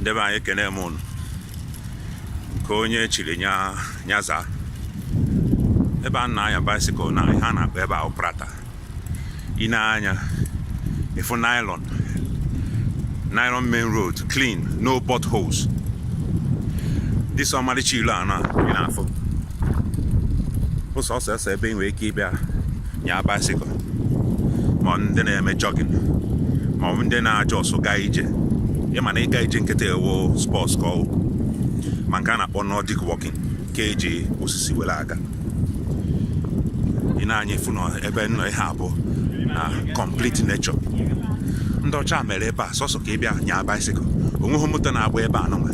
nde be anyị ekene m unu nke onye chiri nya zaa ebe a na-anya bicycle na ihe a na-akpọ ebe a wụ Prater ị nee anya ị fụ nylon main road clean no potholes this ọmarịcha ilo a na ị na-afụ bụ sọsọ ese ebe ị nwere ike ịbịa nya bicycle ma ndị na-eme jogging ma ọ bụ ndị na-agba ọsọ gaa ije ị ma na ịga ije nkịtị a wụ sports ka ọ wụ ma nke a na-akpọ nordic walking nke e ji osisi were aga ị nee anya ị fụ na ebe m nọ here bụ na complete nature ndị ọcha mere ebe a sọsọ ka ị bịa nya bicycle o nweghị moto na-agba ebe a nụnwa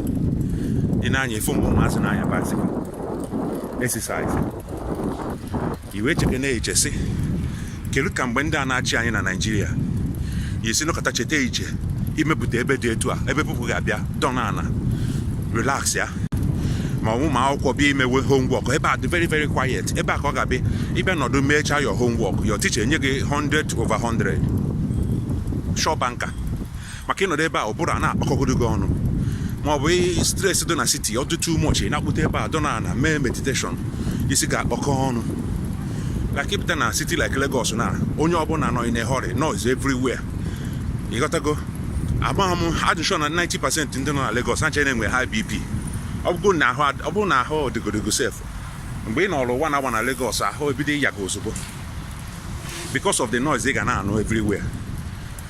ị nee anya ị fụ mgbe ụmụazị na-anya bicycle exercise i wee cheke na-eche sị kedu ka mgbe ndị a na-achị anyị na naijiria yi si nọkata cheta iche imepụta ebe dị etu a ebe people ga-abịa dọna ana relaxia ma ọ wụ ụmụ akwụkwọ bịa imewe homework ebe a dị very very quiet ebe a ka ị ga-abịa ị bịa nọdụ mechaa your homework your teacher enye gị 100 over 100 sure banker maka ị nọdụ ebe a ụbụrụ a na-akpakọgodo gị ọnụ ma ọ bụ stress dị na city ọ dị too much ị na-apụta ebe a dọna ana mee meditation isi ga-akpakọ ọnụ like ị pụta na city like Lagos na onye ọbụla nọ in a hurry noise everywhere ị ghọtago agbaghị m adị sure na 90 percent ndị nọ na Lagos ha na-enwe high BP ọ bụrụ na ahụ ọ bụrụ na ahụ dịgodi gị sef mgbe ị nọrọ ọnwa naabọ na Lagos ahụ ebido ịya gị ozugbo because of the noise ị ga na-anụ everywhere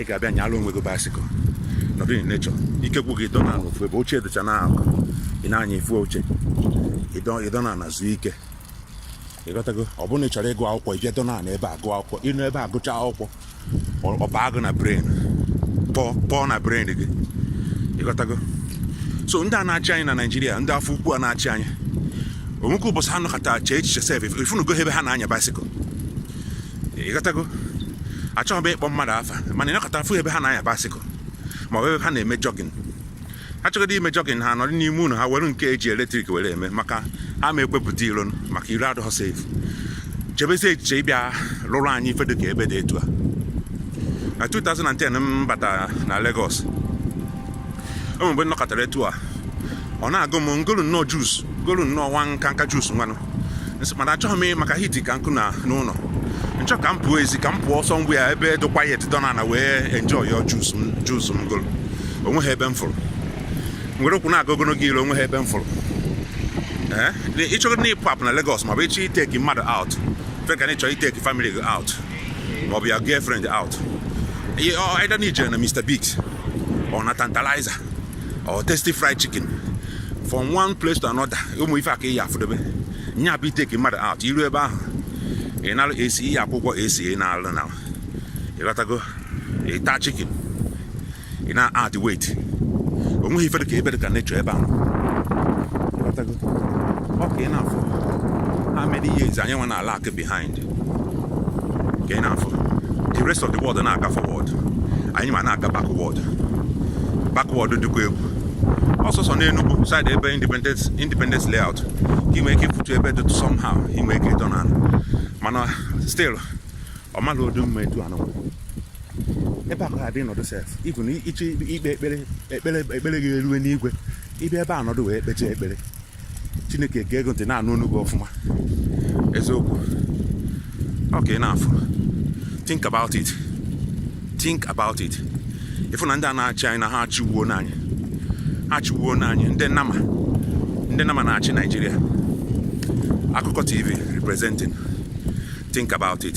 ị ga-abịa nyalụ onwe gị bicycle nọdụ in nature ike gwụ gị dọna n'ofu ebe oche dịcha na akụkụ ị nee anya ị fụ oche ị dọna ana zuo ike ị ghọtago ọ bụrụ na ị chọrọ ịgụ akwụkwọ ị bịa dọna na ebe a gụọ akwụkwọ ị nọ ebe a gụchaa akwụkwọ ọ baa gị na brain pọọ na brain gị ị ghọtago so ndị a na-achị anyị na naijiria ndị afọ ukwu a na-achị anyị o nwekwa ụbọchị ha nọkata chee echiche sef ị fụnugo ebe ha na-anya bicycle ị ghọtago achọghị m ịkpọ mmadụ afa mana ị nọkata fụ ebe ha na-anya bicycle ma ọ bụ ebe ha na-eme jogging ha chọgodi ime jogging ha nọrọ n'ime ụlọ ha were nke e ji electric were eme maka ha ama ekwe pụta iro maka iro adịghị safe chebezie echiche ịbịa lụrụ anyị ife dịka ebe dị etu a na 2010 m bata na Lagos o nwe mgbe m nọkatara etu a ọ na-agụ m m golu nnọọ juice m golu nnọọ nwa nkanka juice nwanụ mana achọghị m maka heat ka nkụ na n'ụlọ nchọ ka m pụọ ezi ka m pụọ ọsọ m bịa ebe dị quiet dọ na wee enjoy ya juice m golu onweghị ebe m fụrụ m were ụkwụ na-aga ogologo ilo onweghị ebe m fụrụ ịchọrọ na ịpụ apụ na Lagos maọbụ ịchọ iteki mmadụ out feka na ịchọ iteki family gị out maọbụ your girlfriend out either na ijere na Mr Biggs or na Tantalizer or Tasty Fried Chicken from one place to another ụmụ ife aka iyi afụdobe nya bụ iteki mmadụ out iru ebe ahụ ị nara esi iyi akwụkwọ esi ị na-alụ na ịghọtago ịta chicken ị na add weight o nweghị ife dị ka ebe dị ka nature ebe ahụ ọ ka ị na-afụ how many years anyị wee na-alag behind ka ị na-afụ the rest of the world na-aga forward anyịnwa na-aga backward backward dịkwa egwu ọ sọsọ n'Enugu side ebe independence independence layout ka ị nwee ike ịfụtụ ebe dịtụ somehow ị nwee ike ịdọ na mana still ọ maghị odu mma etu anụ ebe a ka adị nọdụ sef even ịchọ ikpe ekpere ekpere ekpere gị erue n'igwe ịbịa ebe a nọdụ wee kpechaa ekpere Chineke ga-ege ntị na-anụ onu gị ọfụma eziokwu ọ ka ị na-afụ think about it think about it ịfụ na ndị a na-achị anyị na ha achịgwuona anyị ha achịgwuona anyị ndị nama ndị nama na-achị Naịjirịa Akụkọ TV representing think about it